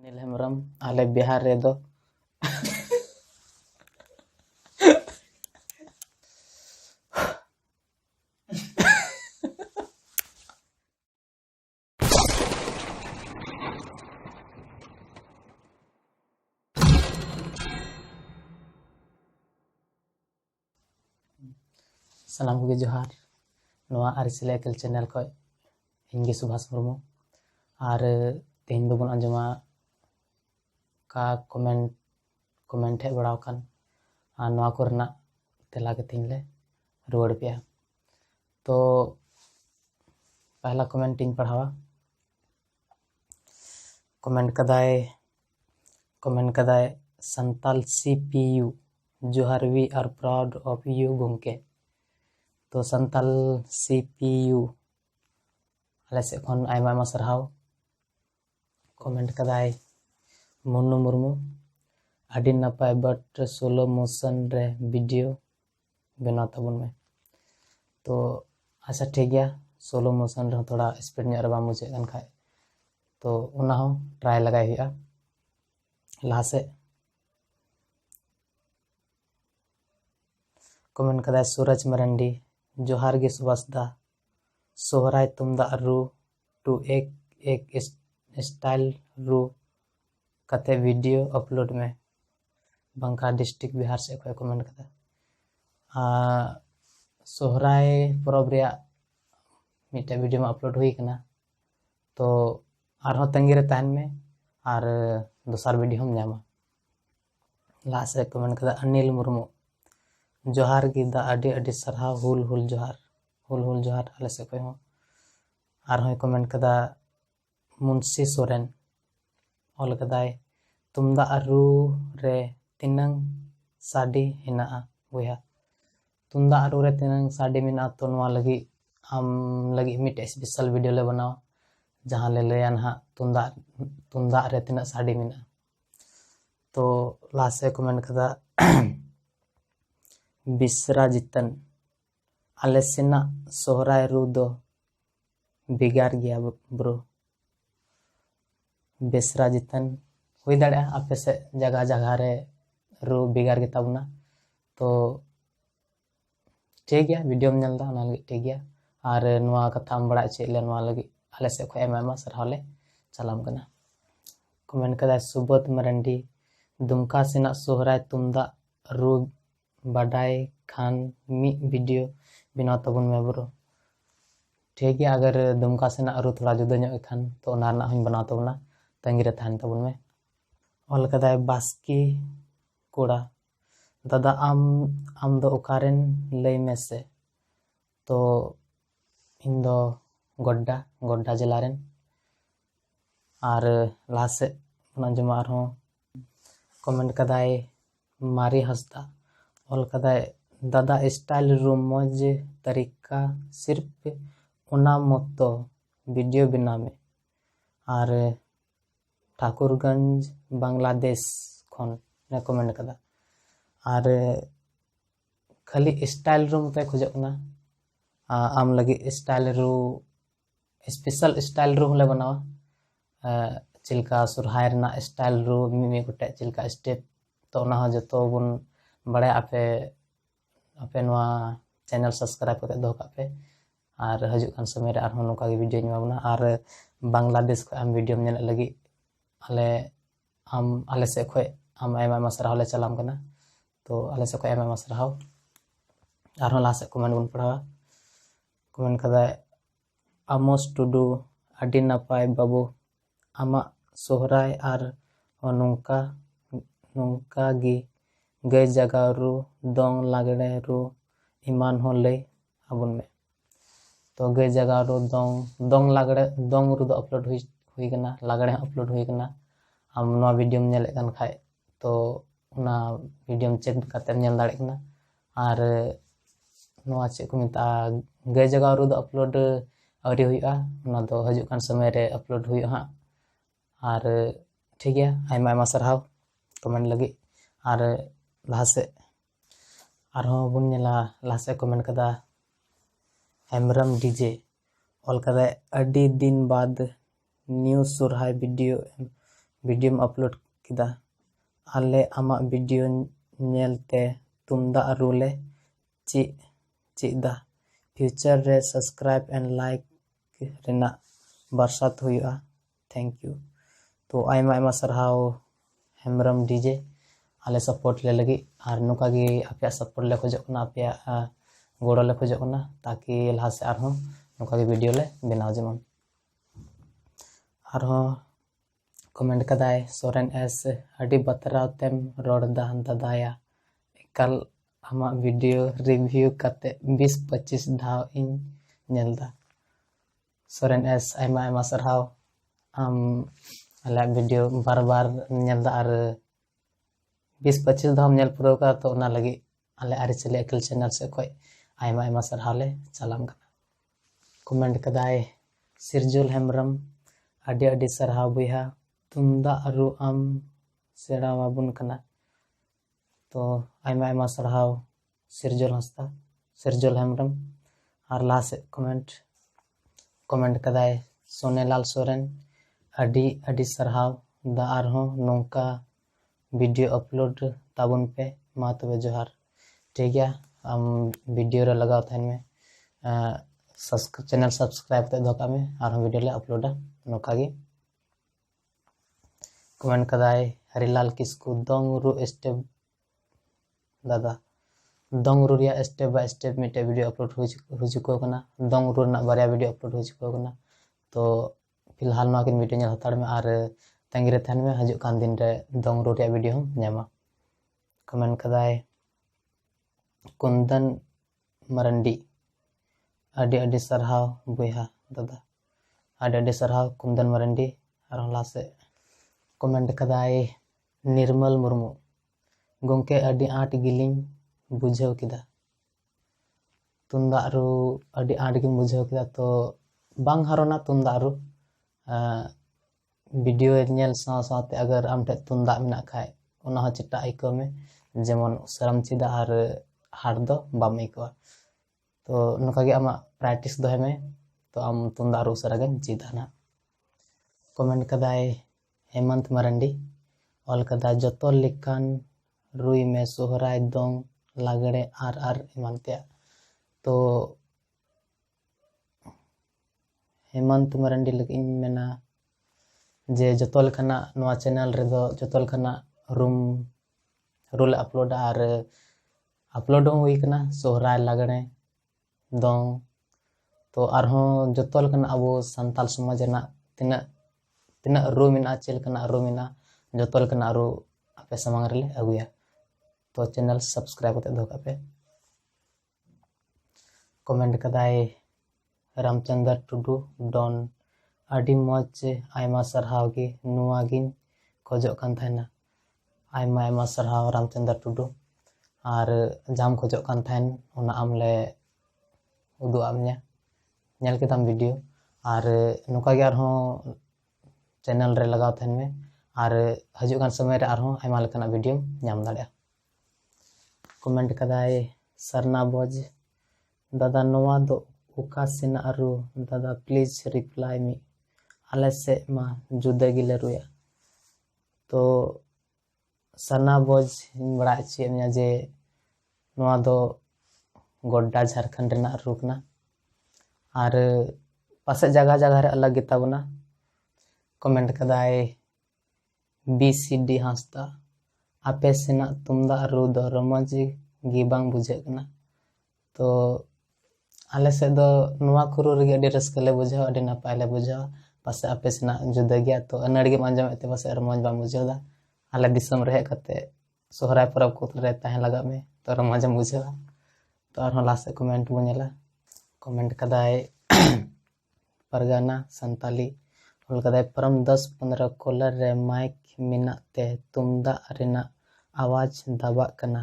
ᱱᱤᱞ ᱦᱮᱢᱵᱨᱚᱢ ᱟᱞᱮ ᱵᱤᱦᱟᱨ ᱨᱮᱫᱚ ᱥᱟᱱᱟᱢ ᱠᱚᱜᱮ ᱡᱚᱦᱟᱨ ᱱᱚᱣᱟ ᱟᱹᱨᱤᱪᱟᱹᱞᱤ ᱟᱹᱠᱤᱞ ᱪᱮᱱᱮᱞ ᱠᱷᱚᱡ ᱤᱧᱜᱮ ᱥᱩᱵᱷᱟᱥ ᱢᱩᱨᱢᱩ ᱟᱨ ᱛᱮᱦᱮᱧ ᱫᱚᱵᱚᱱ ᱟᱸᱡᱚᱢᱟ ᱚᱠᱟ ᱠᱚᱢᱮᱱᱴ ᱠᱚᱢᱮᱱᱴ ᱦᱮᱡ ᱵᱟᱲᱟᱣ ᱟᱠᱟᱱ ᱟᱨ ᱱᱚᱣᱟ ᱠᱚᱨᱮᱱᱟᱜ ᱛᱮᱞᱟ ᱜᱮ ᱛᱮᱦᱮᱧ ᱞᱮ ᱨᱩᱣᱟᱹᱲ ᱯᱮᱭᱟ ᱛᱚ ᱯᱟᱦᱞᱟ ᱠᱚᱢᱮᱱᱴ ᱤᱧ ᱯᱟᱲᱦᱟᱣᱟ ᱠᱚᱢᱮᱱᱴ ᱠᱟᱫᱟᱭ ᱠᱚᱢᱮᱱᱴ ᱠᱟᱫᱟᱭ ᱥᱟᱱᱛᱟᱞ ᱥᱤ ᱯᱤ ᱭᱩ ᱡᱚᱦᱟᱨ we are proud of you ᱜᱚᱢᱠᱮ ᱛᱚ ᱥᱟᱱᱛᱟᱞ ᱥᱤ ᱯᱤ ᱭᱩ ᱟᱞᱮ ᱥᱮᱫ ᱠᱷᱚᱱ ᱟᱭᱢᱟ ᱟᱭᱢᱟ ᱥᱟᱨᱦᱟᱣ ᱠᱚᱢᱮᱱᱴ ᱠᱟᱫᱟᱭ ᱢᱩᱱᱱᱩ ᱢᱩᱨᱢᱩ ᱟᱹᱰᱤ ᱱᱟᱯᱟᱭ ᱵᱟᱴ ᱥᱳᱞᱳ ᱢᱳᱥᱚᱱ ᱨᱮ ᱵᱷᱤᱰᱤᱭᱳ ᱵᱮᱱᱟᱣ ᱛᱟᱵᱚᱱ ᱢᱮ ᱛᱚ ᱟᱪᱪᱷᱟ ᱴᱷᱤᱠ ᱜᱮᱭᱟ ᱥᱳᱞᱳ ᱢᱳᱥᱚᱱ ᱨᱮᱦᱚᱸ ᱛᱷᱚᱲᱟ ᱥᱯᱤᱰ ᱧᱚᱜ ᱨᱮ ᱵᱟᱢ ᱵᱩᱡᱷᱟᱹᱜ ᱠᱟᱱ ᱠᱷᱟᱡ ᱛᱚ ᱚᱱᱟ ᱦᱚᱸ ᱴᱨᱟᱭ ᱞᱟᱜᱟᱭ ᱦᱩᱭᱩᱜᱼᱟ ᱞᱟᱦᱟ ᱥᱮᱫ ᱠᱚ ᱢᱮᱱ ᱠᱟᱫᱟ ᱥᱩᱨᱚᱡᱽ ᱢᱟᱨᱟᱱᱰᱤ ᱡᱚᱦᱟᱨ ᱜᱮ ᱥᱩᱵᱷᱟᱥ ᱫᱟ ᱥᱚᱦᱨᱟᱭ ᱛᱩᱢᱫᱟᱜ ᱨᱩ ᱴᱩ ᱮᱠ ᱮᱠ ᱥᱴᱟᱭᱤᱞ ᱨᱩ ᱠᱟᱛᱮ ᱵᱷᱤᱰᱤᱭᱳ ᱟᱯᱞᱳᱰ ᱢᱮ ᱵᱟᱝᱠᱟ ᱰᱤᱥᱴᱤᱠ ᱵᱤᱦᱟᱨ ᱥᱮᱫ ᱠᱷᱚᱱ ᱠᱚ ᱢᱮᱱ ᱠᱟᱫᱟ ᱥᱚᱦᱨᱟᱭ ᱯᱚᱨᱚᱵᱽ ᱨᱮᱭᱟᱜ ᱢᱤᱫᱴᱮᱱ ᱵᱷᱤᱰᱤᱭᱳ ᱢᱟ ᱟᱯᱞᱳᱰ ᱦᱩᱭ ᱠᱟᱱᱟ ᱛᱚ ᱟᱨᱦᱚᱸ ᱛᱟᱺᱜᱤ ᱨᱮ ᱛᱟᱦᱮᱱ ᱢᱮ ᱟᱨ ᱫᱚᱥᱟᱨ ᱵᱷᱤᱰᱤᱭᱳ ᱦᱚᱸᱢ ᱧᱟᱢᱟ ᱞᱟᱦᱟ ᱥᱮᱫ ᱠᱚ ᱢᱮᱱ ᱠᱟᱫᱟ ᱚᱱᱤᱞ ᱢᱩᱨᱢᱩ ᱡᱚᱦᱟᱨ ᱜᱮ ᱫᱟ ᱟᱹᱰᱤ ᱟᱹᱰᱤ ᱥᱟᱨᱦᱟᱣ ᱦᱩᱞ ᱦᱩᱞ ᱡᱚᱦᱟᱨ ᱦᱩᱞ ᱦᱩᱞ ᱡᱚᱦᱟᱨ ᱟᱞᱮ ᱥᱮᱫ ᱠᱷᱚᱱ ᱦᱚᱸ ᱟᱨᱦᱚᱸᱭ ᱠᱚ ᱢᱮᱱ ᱠᱟᱫᱟ ᱢᱩᱱᱥᱤ ᱥᱚᱨᱮᱱ ᱚᱞ ᱠᱟᱫᱟᱭ ᱛᱩᱢᱫᱟᱜ ᱨᱩ ᱨᱮ ᱛᱤᱱᱟᱹᱝ ᱥᱟᱰᱮ ᱦᱮᱱᱟᱜᱼᱟ ᱵᱚᱭᱦᱟ ᱛᱩᱢᱫᱟᱜ ᱨᱩ ᱨᱮ ᱛᱤᱱᱟᱹᱝ ᱥᱟᱰᱮ ᱢᱮᱱᱟᱜᱼᱟ ᱛᱚ ᱱᱚᱣᱟ ᱞᱟᱹᱜᱤᱫ ᱟᱢ ᱞᱟᱹᱜᱤᱫ ᱢᱤᱫᱴᱮᱡ ᱥᱯᱮᱥᱟᱞ ᱵᱷᱤᱰᱤᱭᱳ ᱞᱮ ᱵᱮᱱᱟᱣᱟ ᱡᱟᱦᱟᱸ ᱞᱮ ᱞᱟᱹᱭᱟ ᱱᱟᱦᱟᱜ ᱛᱩᱢᱫᱟᱜ ᱛᱩᱢᱫᱟᱜ ᱨᱮ ᱛᱤᱱᱟᱹᱜ ᱥᱟᱰᱮ ᱢᱮᱱᱟᱜᱼᱟ ᱛᱚ ᱞᱟᱦᱟ ᱥᱮᱫ ᱠᱚ ᱢᱮᱱ ᱠᱟᱫᱟ ᱵᱤᱥᱨᱟᱡᱤᱛᱟᱱ ᱟᱞᱮ ᱥᱮᱱᱟᱜ ᱥᱚᱦᱨᱟᱭ ᱨᱩ ᱫᱚ ᱵᱷᱮᱜᱟᱨ ᱜᱮᱭᱟ ᱵᱨᱳ ᱵᱮᱥᱨᱟ ᱡᱤᱛᱟᱹᱱ ᱦᱩᱭ ᱫᱟᱲᱮᱭᱟᱜᱼᱟ ᱟᱯᱮ ᱥᱮᱫ ᱡᱟᱭᱜᱟ ᱡᱟᱭᱜᱟ ᱨᱮ ᱨᱩ ᱵᱷᱮᱜᱟᱨ ᱜᱮᱛᱟ ᱵᱚᱱᱟ ᱛᱚ ᱴᱷᱤᱠ ᱜᱮᱭᱟ ᱵᱷᱤᱰᱤᱭᱳᱢ ᱧᱮᱞ ᱮᱫᱟ ᱚᱱᱟ ᱞᱟᱹᱜᱤᱫ ᱴᱷᱤᱠ ᱜᱮᱭᱟ ᱟᱨ ᱱᱚᱣᱟ ᱠᱟᱛᱷᱟᱢ ᱵᱟᱲᱟᱭ ᱦᱚᱪᱚᱭᱮᱫ ᱞᱮ ᱱᱚᱣᱟ ᱞᱟᱹᱜᱤᱫ ᱟᱞᱮ ᱥᱮᱫ ᱠᱷᱚᱱ ᱟᱭᱢᱟ ᱟᱭᱢᱟ ᱥᱟᱨᱦᱟᱣ ᱞᱮ ᱪᱟᱞᱟᱢ ᱠᱟᱱᱟ ᱠᱚ ᱢᱮᱱ ᱠᱟᱫᱟ ᱥᱩᱵᱳᱫᱷ ᱢᱟᱨᱟᱱᱰᱤ ᱫᱩᱢᱠᱟ ᱥᱮᱱᱟᱜ ᱥᱚᱦᱨᱟᱭ ᱛᱩᱢᱫᱟᱜ ᱨᱩ ᱵᱟᱰᱟᱭ ᱠᱷᱟᱱ ᱢᱤᱫ ᱵᱷᱤᱰᱤᱭᱳ ᱵᱮᱱᱟᱣ ᱛᱟᱵᱚᱱ ᱢᱮ ᱵᱨᱳ ᱴᱷᱤᱠ ᱜᱮᱭᱟ ᱟᱜᱟᱨ ᱫᱩᱢᱠᱟ ᱥᱮᱱᱟᱜ ᱨᱩ ᱛᱷᱚᱲᱟ ᱡᱩᱫᱟᱹ ᱧᱚᱜ ᱜᱮᱠᱷᱟᱱ ᱛᱚ ᱚᱱᱟ ᱨᱮᱱᱟᱜ ᱦᱚᱧ ᱵᱮᱱᱟᱣ ᱛᱟᱵᱚᱱᱟ ᱛᱟᱺᱜᱤ ᱨᱮ ᱛᱟᱦᱮᱱ ᱛᱟᱵᱚᱱ ᱢᱮ ᱚᱞ ᱠᱟᱫᱟᱭ ᱵᱟᱥᱠᱮ ᱠᱚᱲᱟ ᱫᱟᱫᱟ ᱟᱢ ᱟᱢ ᱫᱚ ᱚᱠᱟᱨᱮᱱ ᱞᱟᱹᱭ ᱢᱮᱥᱮ ᱛᱚ ᱤᱧ ᱫᱚ ᱜᱚᱰᱰᱟ ᱜᱚᱰᱰᱟ ᱡᱮᱞᱟ ᱨᱮᱱ ᱟᱨ ᱞᱟᱦᱟ ᱥᱮᱫ ᱵᱚᱱ ᱟᱸᱡᱚᱢᱟ ᱟᱨᱦᱚᱸ ᱠᱚᱢᱮᱱᱴ ᱠᱟᱫᱟᱭ ᱢᱟᱨᱮ ᱦᱟᱸᱥᱫᱟ ᱚᱞ ᱠᱟᱫᱟᱭ ᱫᱟᱫᱟ ᱥᱴᱟᱭᱤᱞ ᱨᱩᱢ ᱢᱚᱡᱽ ᱛᱟᱹᱨᱤᱠᱟ ᱥᱤᱨᱯ ᱚᱱᱟ ᱢᱚᱛᱚ ᱵᱷᱤᱰᱤᱭᱳ ᱵᱮᱱᱟᱣ ᱢᱮ ᱟᱨ ᱴᱷᱟᱠᱩᱨᱜᱚᱸᱡᱽ ᱵᱟᱝᱞᱟᱫᱮᱥ ᱠᱷᱚᱱ ᱮ ᱠᱚᱢᱮᱱᱴ ᱠᱟᱫᱟ ᱟᱨ ᱠᱷᱟᱹᱞᱤ ᱥᱴᱟᱭᱤᱞ ᱨᱩᱢ ᱯᱮ ᱠᱷᱚᱡᱚᱜ ᱠᱟᱱᱟ ᱟᱢ ᱞᱟᱹᱜᱤᱫ ᱥᱴᱟᱭᱤᱞ ᱨᱩᱢ ᱥᱯᱮᱥᱟᱞ ᱥᱴᱟᱭᱤᱞ ᱨᱩ ᱦᱚᱸᱞᱮ ᱵᱮᱱᱟᱣᱟ ᱪᱮᱫ ᱞᱮᱠᱟ ᱥᱚᱨᱦᱟᱭ ᱨᱮᱱᱟᱜ ᱥᱴᱟᱭᱤᱞ ᱨᱩ ᱢᱤᱢᱤᱫ ᱜᱚᱴᱮᱡ ᱪᱮᱫ ᱞᱮᱠᱟ ᱥᱴᱮᱯ ᱛᱚ ᱚᱱᱟ ᱦᱚᱸ ᱡᱚᱛᱚ ᱵᱚᱱ ᱵᱟᱲᱟᱭᱟ ᱟᱯᱮ ᱟᱯᱮ ᱱᱚᱣᱟ ᱪᱮᱱᱮᱞ ᱥᱟᱵᱥᱠᱨᱟᱭᱤᱵ ᱠᱟᱛᱮᱫ ᱫᱚᱦᱚ ᱠᱟᱜ ᱯᱮ ᱟᱨ ᱦᱤᱡᱩᱜ ᱠᱟᱱ ᱥᱚᱢᱚᱭ ᱨᱮ ᱟᱨᱦᱚᱸ ᱱᱚᱝᱠᱟ ᱜᱮ ᱵᱷᱤᱰᱤᱭᱳᱧ ᱮᱢᱟ ᱵᱚᱱᱟ ᱟᱨ ᱵᱟᱝᱞᱟᱫᱮᱥ ᱠᱷᱚᱡ ᱟᱢ ᱵᱷᱤᱰᱤᱭᱳᱢ ᱧᱮᱞᱮᱫ ᱞᱟᱹᱜᱤᱫ ᱟᱞᱮ ᱟᱢ ᱟᱞᱮ ᱥᱮᱫ ᱠᱷᱚᱡ ᱟᱢ ᱟᱭᱢᱟ ᱟᱭᱢᱟ ᱥᱟᱨᱦᱟᱣ ᱞᱮ ᱪᱟᱞᱟᱢ ᱠᱟᱱᱟ ᱛᱚ ᱟᱞᱮ ᱥᱮᱫ ᱠᱷᱚᱡ ᱟᱭᱢᱟ ᱟᱭᱢᱟ ᱥᱟᱨᱦᱟᱣ ᱟᱨᱦᱚᱸ ᱞᱟᱦᱟ ᱥᱮᱫ ᱠᱚᱢᱮᱱᱴ ᱵᱚᱱ ᱯᱟᱲᱦᱟᱣᱟ ᱠᱚ ᱢᱮᱱ ᱠᱟᱫᱟ ᱟᱢᱳᱥ ᱴᱩᱰᱩ ᱟᱹᱰᱤ ᱱᱟᱯᱟᱭ ᱵᱟᱹᱵᱩ ᱟᱢᱟᱜ ᱥᱚᱦᱨᱟᱭ ᱟᱨ ᱦᱚᱸ ᱱᱚᱝᱠᱟ ᱱᱚᱝᱠᱟ ᱜᱮ ᱜᱟᱹᱭ ᱡᱟᱜᱟᱣ ᱨᱩ ᱫᱚᱝ ᱞᱟᱜᱽᱬᱮ ᱨᱩ ᱮᱢᱟᱱ ᱦᱚᱸ ᱞᱟᱹᱭ ᱟᱵᱚᱱ ᱢᱮ ᱛᱚ ᱜᱟᱹᱭ ᱡᱟᱜᱟᱣ ᱨᱩ ᱫᱚᱝ ᱫᱚᱝ ᱞᱟᱜᱽᱬᱮ ᱫᱚᱝ ᱨᱩ ᱫᱚ ᱟᱯᱞᱳᱰ ᱦᱩᱭ ᱦᱩᱭ ᱠᱟᱱᱟ ᱞᱟᱜᱽᱬᱮ ᱦᱚᱸ ᱟᱯᱞᱳᱰ ᱦᱩᱭ ᱠᱟᱱᱟ ᱟᱢ ᱱᱚᱣᱟ ᱵᱷᱤᱰᱭᱳᱢ ᱧᱮᱞᱮᱫ ᱠᱟᱱ ᱠᱷᱟᱡ ᱛᱚ ᱚᱱᱟ ᱵᱷᱤᱰᱭᱳᱢ ᱪᱮᱠ ᱠᱟᱛᱮᱢ ᱧᱮᱞ ᱫᱟᱲᱮᱜ ᱠᱟᱱᱟ ᱟᱨ ᱱᱚᱣᱟ ᱪᱮᱫ ᱠᱚ ᱢᱮᱛᱟᱜᱼᱟ ᱜᱟᱹᱭ ᱡᱟᱜᱟᱣ ᱨᱩ ᱫᱚ ᱟᱯᱞᱳᱰ ᱟᱹᱣᱨᱤ ᱦᱩᱭᱩᱜᱼᱟ ᱚᱱᱟ ᱫᱚ ᱦᱤᱡᱩᱜ ᱠᱟᱱ ᱥᱚᱢᱚᱭ ᱨᱮ ᱟᱯᱞᱳᱰ ᱦᱩᱭᱩᱜᱼᱟ ᱦᱟᱸᱜ ᱟᱨ ᱴᱷᱤᱠ ᱜᱮᱭᱟ ᱟᱭᱢᱟ ᱟᱭᱢᱟ ᱥᱟᱨᱦᱟᱣ ᱠᱚᱢᱮᱱᱴ ᱞᱟᱹᱜᱤᱫ ᱟᱨ ᱞᱟᱦᱟ ᱥᱮᱫ ᱟᱨᱦᱚᱸ ᱵᱚᱱ ᱧᱮᱞᱟ ᱞᱟᱦᱟ ᱥᱮᱫ ᱠᱚ ᱢᱮᱱ ᱠᱟᱫᱟ ᱦᱮᱢᱵᱨᱚᱢ ᱰᱤᱡᱮ ᱚᱞ ᱠᱟᱫᱟᱭ ᱟᱹᱰᱤ ᱫᱤᱱ ᱵᱟᱫᱽ ᱱᱤᱭᱩ ᱥᱚᱨᱦᱟᱭ ᱵᱷᱤᱰᱤᱭᱳ ᱵᱷᱤᱰᱤᱭᱳᱢ ᱟᱯᱞᱳᱰ ᱠᱮᱫᱟ ᱟᱞᱮ ᱟᱢᱟᱜ ᱵᱷᱤᱰᱤᱭᱳ ᱧᱮᱞ ᱛᱮ ᱛᱩᱢᱫᱟᱜ ᱨᱩ ᱞᱮ ᱪᱮᱫ ᱪᱮᱫ ᱮᱫᱟ ᱯᱷᱤᱭᱩᱪᱟᱨ ᱨᱮ ᱥᱟᱵᱥᱠᱨᱟᱭᱤᱵᱽ ᱮᱱᱰ ᱞᱟᱭᱤᱠ ᱨᱮᱱᱟᱜ ᱵᱟᱨᱥᱟᱛ ᱦᱩᱭᱩᱜᱼᱟ ᱛᱷᱮᱝᱠ ᱤᱭᱩ ᱛᱚ ᱟᱭᱢᱟ ᱟᱭᱢᱟ ᱥᱟᱨᱦᱟᱣ ᱦᱮᱢᱵᱨᱚᱢ ᱰᱤᱡᱮ ᱟᱞᱮ ᱥᱟᱯᱳᱨᱴ ᱞᱮ ᱞᱟᱹᱜᱤᱫ ᱟᱨ ᱱᱚᱝᱠᱟ ᱜᱮ ᱟᱯᱮᱭᱟᱜ ᱥᱟᱯᱳᱨᱴ ᱞᱮ ᱠᱷᱚᱡᱚᱜ ᱠᱟᱱᱟ ᱟᱯᱮᱭᱟᱜ ᱜᱚᱲᱚ ᱞᱮ ᱠᱷᱚᱡᱚᱜ ᱠᱟᱱᱟ ᱛᱟᱠᱤ ᱞᱟᱦᱟ ᱥᱮᱫ ᱟᱨᱦᱚᱸ ᱱᱚᱝᱠᱟ ᱜᱮ ᱵᱷᱤᱰᱤᱭᱳ ᱞᱮ ᱵᱮᱱᱟᱣ ᱡᱮᱢᱚᱱ ᱟᱨᱦᱚᱸ ᱠᱚᱢᱮᱱᱴ ᱠᱟᱫᱟᱭ ᱥᱚᱨᱮᱱ ᱮᱥ ᱟᱹᱰᱤ ᱵᱟᱛᱨᱟᱣ ᱛᱮᱢ ᱨᱚᱲ ᱫᱟ ᱫᱟᱫᱟᱭᱟ ᱮᱠᱟᱞ ᱟᱢᱟᱜ ᱵᱷᱤᱰᱤᱭᱳ ᱨᱤᱵᱷᱤᱭᱩ ᱠᱟᱛᱮ ᱵᱤᱥ ᱯᱚᱸᱪᱤᱥ ᱫᱷᱟᱣ ᱤᱧ ᱧᱮᱞ ᱫᱟ ᱥᱚᱨᱮᱱ ᱮᱥ ᱟᱭᱢᱟ ᱟᱭᱢᱟ ᱥᱟᱨᱦᱟᱣ ᱟᱢ ᱟᱞᱮᱭᱟᱜ ᱵᱷᱤᱰᱤᱭᱳ ᱵᱟᱨ ᱵᱟᱨ ᱧᱮᱞ ᱫᱟ ᱟᱨ ᱵᱤᱥ ᱯᱚᱸᱪᱤᱥ ᱫᱷᱟᱣ ᱧᱮᱞ ᱯᱩᱨᱟᱹᱣ ᱠᱟᱫᱟ ᱛᱚ ᱚᱱᱟ ᱞᱟᱹᱜᱤᱫ ᱟᱞᱮ ᱟᱹᱨᱤᱪᱟᱹᱞᱤ ᱟᱹᱠᱤᱞ ᱪᱮᱱᱮᱞ ᱥᱮᱫ ᱠᱷᱚᱱ ᱟᱭᱢᱟ ᱟᱭᱢᱟ ᱥᱟᱨᱦᱟᱣ ᱞᱮ ᱪᱟᱞᱟᱢ ᱠᱟᱱᱟ ᱠᱚᱢᱮᱱᱴ ᱠᱟᱫᱟᱭ ᱥᱤᱨᱡᱩᱞ ᱦᱮᱢᱵᱨᱚᱢ ᱟᱹᱰᱤ ᱟᱹᱰᱤ ᱥᱟᱨᱦᱟᱣ ᱵᱚᱭᱦᱟ ᱛᱩᱢᱫᱟᱜ ᱨᱩ ᱟᱢ ᱥᱮᱬᱟ ᱟᱵᱚᱱ ᱠᱟᱱᱟ ᱛᱚ ᱟᱭᱢᱟ ᱟᱭᱢᱟ ᱥᱟᱨᱦᱟᱣ ᱥᱤᱨᱡᱚᱞ ᱦᱟᱸᱥᱫᱟ ᱥᱤᱨᱡᱚᱞ ᱦᱮᱢᱵᱨᱚᱢ ᱟᱨ ᱞᱟᱦᱟ ᱥᱮᱫ ᱠᱚᱢᱮᱱᱴ ᱠᱚᱢᱮᱱᱴ ᱠᱟᱫᱟᱭ ᱥᱚᱱᱮᱞᱟᱞ ᱥᱚᱨᱮᱱ ᱟᱹᱰᱤ ᱟᱹᱰᱤ ᱥᱟᱨᱦᱟᱣ ᱫᱟ ᱟᱨᱦᱚᱸ ᱱᱚᱝᱠᱟ ᱵᱷᱤᱰᱤᱭᱳ ᱟᱯᱞᱳᱰ ᱛᱟᱵᱚᱱ ᱯᱮ ᱢᱟ ᱛᱚᱵᱮ ᱡᱚᱦᱟᱨ ᱴᱷᱤᱠ ᱜᱮᱭᱟ ᱟᱢ ᱵᱷᱤᱰᱤᱭᱳ ᱨᱮ ᱞᱟᱜᱟᱣ ᱛᱟᱦᱮᱱ ᱢᱮ ᱪᱮᱱᱮᱞ ᱥᱟᱵᱥᱠᱨᱟᱭᱤᱵ ᱠᱟᱛᱮ ᱫᱚᱦᱚ ᱠᱟᱜ ᱢᱮ ᱟᱨᱦᱚᱸ ᱵᱷᱤᱰᱤᱭᱳ ᱞᱮ ᱟᱯᱞᱳᱰᱟ ᱱᱚᱝᱠᱟ ᱜᱮ ᱠᱚᱢᱮᱱᱴ ᱠᱟᱫᱟᱭ ᱦᱟᱨᱤᱞᱟᱞ ᱠᱤᱥᱠᱩ ᱫᱚᱝ ᱨᱩ ᱥᱴᱮᱯ ᱫᱟᱫᱟ ᱫᱚᱝ ᱨᱩ ᱨᱮᱭᱟᱜ ᱥᱴᱮᱯ ᱵᱟᱭ ᱥᱴᱮᱯ ᱢᱤᱫᱴᱮᱡ ᱵᱷᱤᱰᱤᱭᱳ ᱟᱯᱞᱳᱰ ᱦᱩᱭ ᱪᱩᱠᱟᱹᱣ ᱠᱟᱱᱟ ᱫᱚᱝ ᱨᱩ ᱨᱮᱱᱟᱜ ᱵᱟᱨᱭᱟ ᱵᱷᱤᱰᱤᱭᱳ ᱟᱯᱞᱳᱰ ᱦᱩᱭ ᱪᱩᱠᱟᱹᱣ ᱠᱟᱱᱟ ᱛᱚ ᱯᱷᱤᱞᱦᱟᱞ ᱱᱚᱣᱟ ᱠᱤᱱ ᱵᱷᱤᱰᱤᱭᱳ ᱧᱮᱞ ᱦᱟᱛᱟᱲ ᱢᱮ ᱟᱨ ᱛᱟᱺᱜᱤ ᱨᱮ ᱛᱟᱦᱮᱱ ᱢᱮ ᱦᱤᱡᱩᱜ ᱠᱟᱱ ᱫᱤᱱ ᱨᱮ ᱫᱚᱝ ᱨᱩ ᱨᱮᱭᱟᱜ ᱵᱷᱤᱰᱤᱭᱳ ᱦᱚᱸᱢ ᱧᱟᱢᱟ ᱠᱚᱢᱮᱱᱴ ᱠᱟᱫᱟᱭ ᱠᱩᱱᱫᱚᱱ ᱢᱟᱨᱟᱱᱰᱤ ᱟᱹᱰᱤ ᱟᱹᱰᱤ ᱥᱟᱨᱦᱟᱣ ᱵᱚᱭᱦᱟ ᱫᱟᱫᱟ ᱟᱹᱰᱤ ᱟᱹᱰᱤ ᱥᱟᱨᱦᱟᱣ ᱠᱩᱱᱫᱚᱱ ᱢᱟᱨᱟᱱᱰᱤ ᱟᱨ ᱦᱚᱞᱟ ᱥᱮᱫ ᱠᱚᱢᱮᱱᱴ ᱠᱟᱫᱟᱭ ᱱᱤᱨᱢᱚᱞ ᱢᱩᱨᱢᱩ ᱜᱚᱢᱠᱮ ᱟᱹᱰᱤ ᱟᱸᱴ ᱜᱮᱞᱤᱧ ᱵᱩᱡᱷᱟᱹᱣ ᱠᱮᱫᱟ ᱛᱩᱢᱫᱟᱜ ᱨᱩ ᱟᱹᱰᱤ ᱟᱸᱴ ᱜᱮᱢ ᱵᱩᱡᱷᱟᱹᱣ ᱠᱮᱫᱟ ᱛᱚ ᱵᱟᱝ ᱦᱟᱨᱚᱱᱟ ᱛᱩᱢᱫᱟᱜ ᱨᱩ ᱵᱷᱤᱰᱤᱭᱳ ᱧᱮᱞ ᱥᱟᱶ ᱥᱟᱶᱛᱮ ᱟᱜᱚᱨ ᱟᱢ ᱴᱷᱮᱱ ᱛᱩᱢᱫᱟᱜ ᱢᱮᱱᱟᱜ ᱠᱷᱟᱡ ᱚᱱᱟ ᱦᱚᱸ ᱪᱮᱴᱟᱜ ᱟᱹᱭᱠᱟᱹᱣ ᱢᱮ ᱡᱮᱢᱚᱱ ᱩᱥᱟᱹᱨᱟᱢ ᱪᱮᱫᱟ ᱟᱨ ᱦᱟᱴ ᱫᱚ ᱵᱟᱢ ᱟᱹᱭᱠᱟᱹᱣᱟ ᱛᱚ ᱱᱚᱝᱠᱟ ᱜᱮ ᱟᱢᱟᱜ ᱯᱨᱮᱠᱴᱤᱥ ᱫᱚᱦᱚᱭ ᱢᱮ ᱛᱚ ᱟᱢ ᱛᱩᱢᱫᱟᱜ ᱨᱩ ᱩᱥᱟᱹᱨᱟ ᱜᱮᱢ ᱪᱮᱫᱟ ᱱᱟᱜ ᱠᱚᱢᱮᱱᱴ ᱠᱟᱫᱟᱭ ᱦᱮᱢᱟᱱᱛ ᱢᱟᱨᱟᱱᱰᱤ ᱚᱞ ᱠᱟᱫᱟ ᱡᱚᱛᱚ ᱞᱮᱠᱟᱱ ᱨᱩᱭ ᱢᱮ ᱥᱚᱦᱨᱟᱭ ᱫᱚᱝ ᱞᱟᱜᱽᱲᱮ ᱟᱨ ᱟᱨ ᱮᱢᱟᱱ ᱛᱮᱭᱟᱜ ᱛᱚ ᱦᱮᱢᱟᱱᱛ ᱢᱟᱨᱟᱱᱰᱤ ᱞᱟᱹᱜᱤᱫ ᱤᱧ ᱢᱮᱱᱟ ᱡᱮ ᱡᱚᱛᱚ ᱞᱮᱠᱟᱱᱟᱜ ᱱᱚᱣᱟ ᱪᱮᱱᱮᱞ ᱨᱮᱫᱚ ᱡᱚᱛᱚ ᱞᱮᱠᱟᱱᱟᱜ ᱨᱩᱢ ᱨᱩᱞᱮ ᱟᱯᱞᱳᱰᱟ ᱟᱨ ᱟᱯᱞᱳᱰ ᱦᱚᱸ ᱦᱩᱭ ᱠᱟᱱᱟ ᱥᱚᱦᱨᱟᱭ ᱞᱟᱜᱽᱲᱮ ᱫᱚᱝ ᱛᱚ ᱟᱨᱦᱚᱸ ᱡᱚᱛᱚ ᱞᱮᱠᱟᱱᱟᱜ ᱟᱵᱚ ᱥᱟᱱᱛᱟᱞ ᱥᱚᱢᱟᱡᱽ ᱨᱮᱱᱟᱜ ᱛᱤᱱᱟᱹᱜ ᱛᱤᱱᱟᱹᱜ ᱨᱩ ᱢᱮᱱᱟᱜᱼᱟ ᱪᱮᱫ ᱞᱮᱠᱟᱱᱟᱜ ᱨᱩ ᱢᱮᱱᱟᱜᱼᱟ ᱡᱚᱛᱚ ᱞᱮᱠᱟᱱᱟᱜ ᱨᱩ ᱟᱯᱮ ᱥᱟᱢᱟᱝ ᱨᱮᱞᱮ ᱟᱹᱜᱩᱭᱟ ᱛᱚ ᱪᱮᱱᱮᱞ ᱥᱟᱵᱥᱠᱨᱟᱭᱤᱵᱽ ᱠᱟᱛᱮ ᱫᱚᱦᱚ ᱠᱟᱜ ᱯᱮ ᱠᱚᱢᱮᱱᱴ ᱠᱟᱫᱟᱭ ᱨᱟᱢᱪᱚᱱᱫᱨ ᱴᱩᱰᱩ ᱰᱚᱱ ᱟᱹᱰᱤ ᱢᱚᱡᱽ ᱟᱭᱢᱟ ᱥᱟᱨᱦᱟᱣ ᱜᱮ ᱱᱚᱣᱟ ᱜᱤᱧ ᱠᱷᱚᱡᱚᱜ ᱠᱟᱱ ᱛᱟᱦᱮᱱᱟ ᱟᱭᱢᱟ ᱟᱭᱢᱟ ᱥᱟᱨᱦᱟᱣ ᱨᱟᱢᱪᱚᱱᱫᱨ ᱴᱩᱰᱩ ᱟᱨ ᱡᱟᱦᱟᱸᱢ ᱠᱷᱚᱡᱚᱜ ᱠᱟᱱ ᱛᱟᱦᱮᱱ ᱚᱱᱟ ᱟᱢ ᱞᱮ ᱩᱫᱩᱜ ᱟᱫ ᱢᱮᱭᱟ ᱧᱮᱞ ᱠᱮᱫᱟᱢ ᱵᱷᱤᱰᱤᱭᱳ ᱟᱨ ᱱᱚᱝᱠᱟ ᱜᱮ ᱟᱨᱦᱚᱸ ᱪᱮᱱᱮᱞ ᱨᱮ ᱞᱟᱜᱟᱣ ᱛᱟᱦᱮᱱ ᱢᱮ ᱟᱨ ᱦᱤᱡᱩᱜ ᱠᱟᱱ ᱥᱚᱢᱚᱭ ᱨᱮ ᱟᱨᱦᱚᱸ ᱟᱭᱢᱟ ᱞᱮᱠᱟᱱᱟᱜ ᱵᱷᱤᱰᱤᱭᱳᱢ ᱧᱟᱢ ᱫᱟᱲᱮᱭᱟᱜᱼᱟ ᱠᱚᱢᱮᱱᱴ ᱠᱟᱫᱟᱭ ᱥᱟᱨᱱᱟ ᱵᱚᱡᱽ ᱫᱟᱫᱟ ᱱᱚᱣᱟ ᱫᱚ ᱚᱠᱟ ᱥᱮᱱᱟᱜ ᱨᱩ ᱫᱟᱫᱟ ᱯᱞᱤᱡᱽ ᱨᱤᱯᱞᱟᱭ ᱢᱤ ᱟᱞᱮ ᱥᱮᱫ ᱢᱟ ᱡᱩᱫᱟᱹ ᱜᱮᱞᱮ ᱨᱩᱭᱟ ᱛᱚ ᱥᱟᱨᱱᱟ ᱵᱚᱡᱽ ᱤᱧ ᱵᱟᱲᱟᱭ ᱦᱚᱪᱚᱭᱮᱫ ᱢᱮᱭᱟ ᱡᱮ ᱱᱚᱣᱟ ᱫᱚ ᱜᱚᱰᱰᱟ ᱡᱷᱟᱲᱠᱷᱚᱸᱰ ᱨᱮᱱᱟᱜ ᱨᱩ ᱠᱟᱱᱟ ᱟᱨ ᱯᱟᱥᱮᱡ ᱡᱟᱭᱜᱟ ᱡᱟᱭᱜᱟ ᱨᱮ ᱟᱞᱟᱜᱽ ᱜᱮᱛᱟ ᱵᱚᱱᱟ ᱠᱚᱢᱮᱱᱴ ᱠᱟᱫᱟᱭ ᱵᱤ ᱥᱤ ᱰᱤ ᱦᱟᱸᱥᱫᱟ ᱟᱯᱮ ᱥᱮᱱᱟᱜ ᱛᱩᱢᱫᱟᱜ ᱨᱩ ᱫᱚ ᱨᱚᱢᱚᱡᱽ ᱜᱮ ᱵᱟᱝ ᱵᱩᱡᱷᱟᱹᱜ ᱠᱟᱱᱟ ᱛᱚ ᱟᱞᱮ ᱥᱮᱫ ᱫᱚ ᱱᱚᱣᱟ ᱠᱩᱨᱩ ᱨᱮᱜᱮ ᱟᱹᱰᱤ ᱨᱟᱹᱥᱠᱟᱹ ᱞᱮ ᱵᱩᱡᱷᱟᱹᱣᱟ ᱟᱹᱰᱤ ᱱᱟᱯᱟᱭ ᱞᱮ ᱵᱩᱡᱷᱟᱹᱣᱟ ᱯᱟᱥᱮᱡ ᱟᱯᱮ ᱥᱮᱱᱟᱜ ᱡᱩᱫᱟᱹ ᱜᱮᱭᱟ ᱛᱚ ᱟᱹᱱᱟᱹᱲ ᱜᱮᱢ ᱟᱸᱡᱚᱢᱮᱫ ᱛᱮ ᱯᱟᱥᱮᱡ ᱟᱨ ᱢᱚᱡᱽ ᱵᱟᱢ ᱵᱩᱡᱷᱟᱹᱣᱫᱟ ᱟᱞᱮ ᱫᱤᱥᱚᱢ ᱨᱮ ᱦᱮᱡ ᱠᱟᱛᱮ ᱥᱚᱦᱨᱟᱭ ᱯᱚᱨᱚᱵᱽ ᱠᱚᱨᱮ ᱛᱟᱦᱮᱸ ᱞᱟᱜᱟᱜ ᱢᱮ ᱛᱚ ᱟᱨᱚ ᱢᱚᱡᱽ ᱮᱢ ᱵᱩᱡᱷᱟᱹᱣᱟ ᱛᱚ ᱟᱨᱦᱚᱸ ᱞᱟᱦᱟ ᱥᱮᱫ ᱠᱚᱢᱮᱱᱴ ᱵᱚᱱ ᱧᱮᱞᱟ ᱠᱚᱢᱮᱱᱴ ᱠᱟᱫᱟᱭ ᱯᱟᱨᱜᱟᱱᱟ ᱥᱟᱱᱛᱟᱞᱤ ᱚᱞ ᱠᱟᱫᱟᱭ ᱯᱚᱨᱚᱢ ᱫᱚᱥ ᱯᱚᱱᱨᱚ ᱠᱚᱞᱟᱨ ᱨᱮ ᱢᱟᱭᱤᱠ ᱢᱮᱱᱟᱜ ᱛᱮ ᱛᱩᱢᱫᱟᱜ ᱨᱮᱱᱟᱜ ᱟᱣᱟᱡᱽ ᱫᱟᱵᱟᱜ ᱠᱟᱱᱟ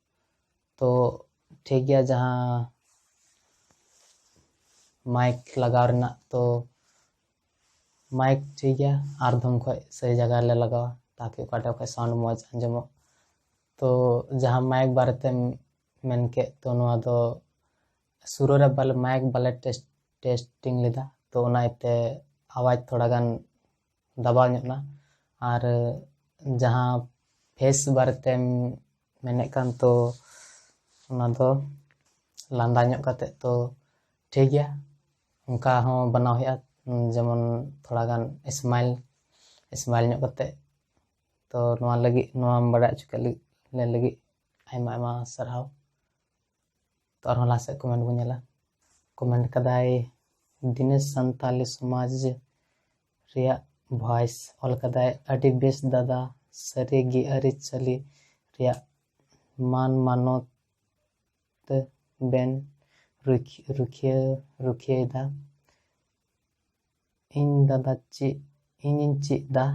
ᱛᱚ ᱴᱷᱤᱠ ᱜᱮᱭᱟ ᱡᱟᱦᱟᱸ ᱢᱟᱭᱤᱠ ᱞᱟᱜᱟᱣ ᱨᱮᱱᱟᱜ ᱛᱚ ᱢᱟᱭᱤᱠ ᱴᱷᱤᱠ ᱜᱮᱭᱟ ᱟᱨ ᱫᱷᱚᱢ ᱠᱷᱚᱡ ᱥᱟᱹᱦᱤ ᱡᱟᱭᱜᱟ ᱨᱮᱞᱮ ᱞᱟᱜᱟᱣᱟ ᱛᱟᱠᱤ ᱚᱠᱟ ᱴᱷᱮᱡ ᱠᱷᱚᱡ ᱥᱟᱣᱩᱱᱰ ᱢᱚᱡᱽ ᱟᱸᱡᱚᱢᱚᱜ ᱛᱚ ᱡᱟᱦᱟᱸ ᱢᱟᱭᱤᱠ ᱵᱟᱨᱮ ᱛᱮᱢ ᱢᱮᱱ ᱠᱮᱫ ᱛᱚ ᱱᱚᱣᱟ ᱫᱚ ᱥᱩᱨᱩ ᱨᱮ ᱵᱟᱞᱮ ᱢᱟᱭᱤᱠ ᱵᱟᱞᱮ ᱴᱮᱥᱴ ᱴᱮᱥᱴᱤᱝ ᱞᱮᱫᱟ ᱛᱚ ᱚᱱᱟ ᱤᱭᱟᱹᱛᱮ ᱟᱣᱟᱡᱽ ᱛᱷᱚᱲᱟ ᱜᱟᱱ ᱫᱟᱵᱟᱣ ᱧᱚᱜ ᱮᱱᱟ ᱟᱨ ᱡᱟᱦᱟᱸ ᱯᱷᱮᱥ ᱵᱟᱨᱮᱛᱮᱢ ᱢᱮᱱᱮᱫ ᱠᱟᱱ ᱛᱚ ᱚᱱᱟ ᱫᱚ ᱞᱟᱸᱫᱟ ᱧᱚᱜ ᱠᱟᱛᱮᱫ ᱛᱚ ᱴᱷᱤᱠ ᱜᱮᱭᱟ ᱚᱱᱠᱟ ᱦᱚᱸ ᱵᱮᱱᱟᱣ ᱦᱩᱭᱩᱜᱼᱟ ᱡᱮᱢᱚᱱ ᱛᱷᱚᱲᱟ ᱜᱟᱱ ᱥᱢᱟᱭᱤᱞ ᱥᱢᱟᱭᱤᱞ ᱧᱚᱜ ᱠᱟᱛᱮᱫ ᱛᱚ ᱱᱚᱣᱟ ᱞᱟᱹᱜᱤᱫ ᱱᱚᱣᱟᱢ ᱵᱟᱲᱟᱭ ᱦᱚᱪᱚ ᱠᱮᱫ ᱞᱟᱹᱜᱤᱫ ᱟᱭᱢᱟ ᱟᱭᱢᱟ ᱥᱟᱨᱦᱟᱣ ᱛᱚ ᱟᱨᱦᱚᱸ ᱞᱟᱦᱟ ᱥᱮᱫ ᱠᱚᱢᱮᱱᱴ ᱵᱚᱱ ᱧᱮᱞᱟ ᱠᱚᱢᱮᱱᱴ ᱠᱟᱫᱟᱭ ᱫᱤᱱᱮᱥ ᱥᱟᱱᱛᱟᱞᱤ ᱥᱚᱢᱟᱡᱽ ᱨᱮᱭᱟᱜ ᱵᱷᱚᱭᱮᱥ ᱚᱞ ᱠᱟᱫᱟᱭ ᱟᱹᱰᱤ ᱵᱮᱥ ᱫᱟᱫᱟ ᱥᱟᱹᱨᱤᱜᱮ ᱟᱹᱨᱤᱪᱟᱹᱞᱤ ᱨᱮᱭᱟᱜ ᱢᱟᱱ ᱢᱟᱱᱚᱛ ᱵᱮᱱ ᱨᱩᱠᱷᱤᱭᱟᱹ ᱨᱩᱠᱷᱤᱭᱟᱹᱭᱮᱫᱟ ᱤᱧ ᱫᱟᱫᱟ ᱪᱮᱫ ᱤᱧᱤᱧ ᱪᱮᱫ ᱮᱫᱟ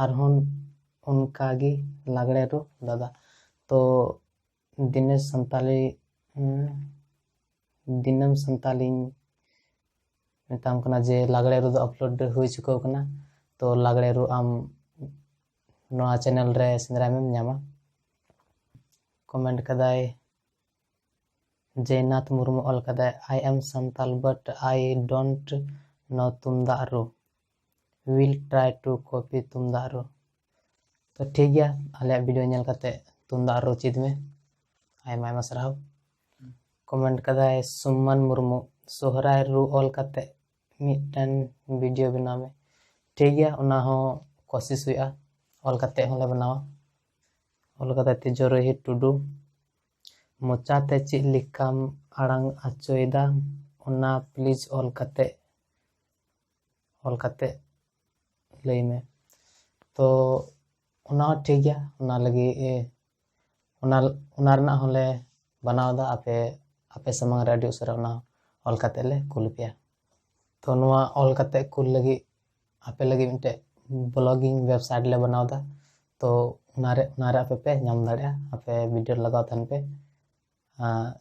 ᱟᱨᱦᱚᱸ ᱚᱱᱠᱟᱜᱮ ᱞᱟᱜᱽᱲᱮ ᱨᱩ ᱫᱟᱫᱟ ᱛᱚ ᱫᱤᱱᱮ ᱥᱟᱱᱛᱟᱞᱤ ᱫᱤᱱᱟᱹᱢ ᱥᱟᱱᱛᱟᱞᱤᱧ ᱢᱮᱛᱟᱢ ᱠᱟᱱᱟ ᱡᱮ ᱞᱟᱜᱽᱲᱮ ᱨᱩ ᱫᱚ ᱟᱯᱞᱳᱰ ᱦᱩᱭ ᱪᱩᱠᱟᱹᱣ ᱠᱟᱱᱟ ᱛᱚ ᱞᱟᱜᱽᱲᱮ ᱨᱩ ᱟᱢ ᱱᱚᱣᱟ ᱪᱮᱱᱮᱞ ᱨᱮ ᱥᱮᱸᱫᱽᱨᱟᱭ ᱢᱮᱢ ᱧᱟᱢᱟ ᱠᱚᱢᱮᱱᱴ ᱠᱟᱫᱟᱭ ᱡᱚᱭᱱᱟᱛᱷ ᱢᱩᱨᱢᱩ ᱚᱞ ᱠᱟᱫᱟᱭ I am Santal but I don't know ᱛᱩᱢᱫᱟᱜ ᱨᱩ ᱩᱭᱤᱞ ᱴᱨᱟᱭ ᱴᱩ ᱠᱚᱯᱤ ᱛᱩᱢᱫᱟᱜ ᱨᱩ ᱛᱚ ᱴᱷᱤᱠ ᱜᱮᱭᱟ ᱟᱞᱮᱭᱟᱜ ᱵᱷᱤᱰᱤᱭᱳ ᱧᱮᱞ ᱠᱟᱛᱮ ᱛᱩᱢᱫᱟᱜ ᱨᱩ ᱪᱮᱫ ᱢᱮ ᱟᱭᱢᱟ ᱟᱭᱢᱟ ᱥᱟᱨᱦᱟᱣ ᱠᱚᱢᱮᱱᱴ ᱠᱟᱫᱟᱭ ᱥᱩᱢᱟᱱ ᱢᱩᱨᱢᱩ ᱥᱚᱦᱨᱟᱭ ᱨᱩ ᱚᱞ ᱠᱟᱛᱮ ᱢᱤᱫᱴᱮᱱ ᱵᱷᱤᱰᱤᱭᱳ ᱵᱮᱱᱟᱣ ᱢᱮ ᱴᱷᱤᱠ ᱜᱮᱭᱟ ᱚᱱᱟ ᱦᱚᱸ ᱠᱚᱥᱤᱥ ᱦᱩᱭᱩᱜᱼᱟ ᱚᱞ ᱠᱟᱛᱮ ᱦᱚᱸᱞᱮ ᱵᱮᱱᱟᱣᱟ ᱚᱞ ᱠᱟᱛᱮ ᱛᱤᱡᱚᱨᱚᱦᱤ ᱴᱩᱰᱩ ᱢᱚᱪᱟᱛᱮ ᱪᱮᱫ ᱞᱮᱠᱟᱢ ᱟᱲᱟᱝ ᱟᱪᱚᱭᱮᱫᱟ ᱚᱱᱟ ᱯᱞᱤᱡᱽ ᱚᱞ ᱠᱟᱛᱮ ᱚᱞ ᱠᱟᱛᱮ ᱞᱟᱹᱭ ᱢᱮ ᱛᱚ ᱚᱱᱟ ᱦᱚᱸ ᱴᱷᱤᱠ ᱜᱮᱭᱟ ᱚᱱᱟ ᱞᱟᱹᱜᱤᱫ ᱚᱱᱟ ᱚᱱᱟ ᱨᱮᱱᱟᱜ ᱦᱚᱸᱞᱮ ᱵᱟᱱᱟᱣ ᱮᱫᱟ ᱟᱯᱮ ᱟᱯᱮ ᱥᱟᱢᱟᱝ ᱨᱮ ᱟᱹᱰᱤ ᱩᱥᱟᱹᱨᱟ ᱚᱱᱟ ᱚᱞ ᱠᱟᱛᱮ ᱞᱮ ᱠᱩᱞ ᱯᱮᱭᱟ ᱛᱚ ᱱᱚᱣᱟ ᱚᱞ ᱠᱟᱛᱮ ᱠᱩᱞ ᱞᱟᱹᱜᱤᱫ ᱟᱯᱮ ᱞᱟᱹᱜᱤᱫ ᱢᱤᱫᱴᱮᱡ ᱵᱞᱚᱜᱤᱝ ᱳᱭᱮᱵᱽᱥᱟᱭᱤᱴ ᱞᱮ ᱵᱮᱱᱟᱣ ᱮᱫᱟ ᱛᱚ ᱚᱱᱟᱨᱮ ᱚᱱᱟᱨᱮ ᱟᱯᱮ ᱯᱮ ᱧᱟᱢ ᱫᱟᱲᱮᱭᱟᱜᱼᱟ ᱟᱯᱮ ᱵᱷᱤᱰᱤᱭᱳ ᱞᱟᱜᱟᱣ ᱛᱟᱦᱮᱱ ᱯᱮ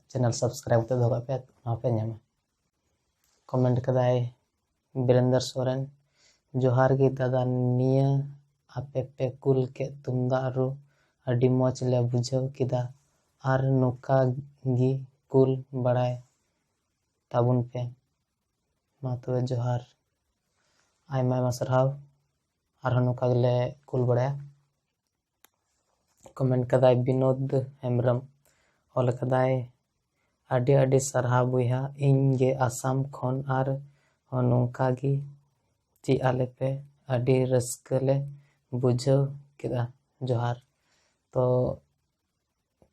ᱪᱮᱱᱮᱞ ᱥᱟᱵᱥᱠᱨᱟᱭᱤᱵᱽ ᱠᱟᱛᱮ ᱫᱚᱦᱚ ᱠᱟᱜ ᱯᱮ ᱚᱱᱟ ᱯᱮ ᱧᱟᱢᱟ ᱠᱚᱢᱮᱱᱴ ᱠᱟᱫᱟᱭ ᱵᱤᱨᱮᱱᱫᱚᱨ ᱥᱚᱨᱮᱱ ᱡᱚᱦᱟᱨ ᱜᱮ ᱫᱟᱫᱟ ᱱᱤᱭᱟᱹ ᱟᱯᱮ ᱯᱮ ᱠᱩᱞ ᱠᱮᱫ ᱛᱩᱢᱫᱟᱜ ᱨᱩ ᱟᱹᱰᱤ ᱢᱚᱡᱽ ᱞᱮ ᱵᱩᱡᱷᱟᱹᱣ ᱠᱮᱫᱟ ᱟᱨ ᱱᱚᱝᱠᱟ ᱜᱮ ᱠᱩᱞ ᱵᱟᱲᱟᱭ ᱛᱟᱵᱚᱱ ᱯᱮ ᱢᱟ ᱛᱚᱵᱮ ᱡᱚᱦᱟᱨ ᱟᱭᱢᱟ ᱟᱭᱢᱟ ᱥᱟᱨᱦᱟᱣ ᱟᱨᱦᱚᱸ ᱱᱚᱝᱠᱟ ᱜᱮᱞᱮ ᱠᱩᱞ ᱵᱟᱲᱟᱭᱟ ᱠᱚᱢᱮᱱᱴ ᱠᱟᱫᱟᱭ ᱵᱤᱱᱳᱫ ᱦᱮᱢᱵᱨᱚᱢ ᱚᱞ ᱠᱟᱫᱟᱭ ᱟᱹᱰᱤ ᱟᱹᱰᱤ ᱥᱟᱨᱦᱟᱣ ᱵᱚᱭᱦᱟ ᱤᱧ ᱜᱮ ᱟᱥᱟᱢ ᱠᱷᱚᱱ ᱟᱨ ᱦᱚᱸ ᱱᱚᱝᱠᱟ ᱜᱮ ᱪᱮᱫ ᱟᱞᱮ ᱯᱮ ᱟᱹᱰᱤ ᱨᱟᱹᱥᱠᱟᱹ ᱞᱮ ᱵᱩᱡᱷᱟᱹᱣ ᱠᱮᱫᱟ ᱡᱚᱦᱟᱨ ᱛᱚ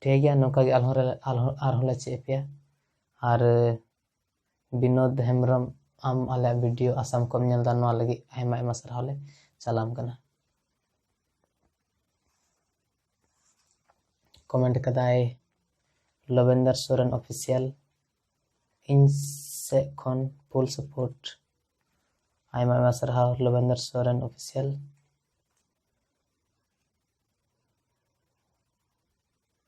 ᱴᱷᱤᱠ ᱜᱮᱭᱟ ᱱᱚᱝᱠᱟ ᱜᱮ ᱟᱨᱦᱚᱸ ᱟᱨᱦᱚᱸ ᱞᱮ ᱪᱮᱫ ᱟᱯᱮᱭᱟ ᱟᱨ ᱵᱤᱱᱳᱫ ᱦᱮᱢᱵᱨᱚᱢ ᱟᱢ ᱟᱞᱮᱭᱟᱜ ᱵᱷᱤᱰᱤᱭᱳ ᱟᱥᱟᱢ ᱠᱚᱢ ᱧᱮᱞ ᱮᱫᱟ ᱱᱚᱣᱟ ᱞᱟᱹᱜᱤᱫ ᱟᱭᱢᱟ ᱟᱭᱢᱟ ᱥᱟᱨᱦᱟᱣ ᱞᱮ ᱪᱟᱞᱟᱢ ᱠᱟᱱᱟ ᱠᱚᱢᱮᱱᱴ ᱠᱟᱫᱟᱭ ᱞᱚᱵᱮᱱᱫᱚᱨ ᱥᱚᱨᱮᱱ ᱚᱯᱷᱤᱥᱤᱭᱟᱞ ᱤᱧ ᱥᱮᱫ ᱠᱷᱚᱱ ᱯᱷᱩᱞ ᱥᱟᱯᱳᱨᱴ ᱟᱭᱢᱟ ᱟᱭᱢᱟ ᱥᱟᱨᱦᱟᱣ ᱞᱚᱵᱮᱱᱫᱚᱨ ᱥᱚᱨᱮᱱ ᱚᱯᱷᱤᱥᱤᱭᱟᱞ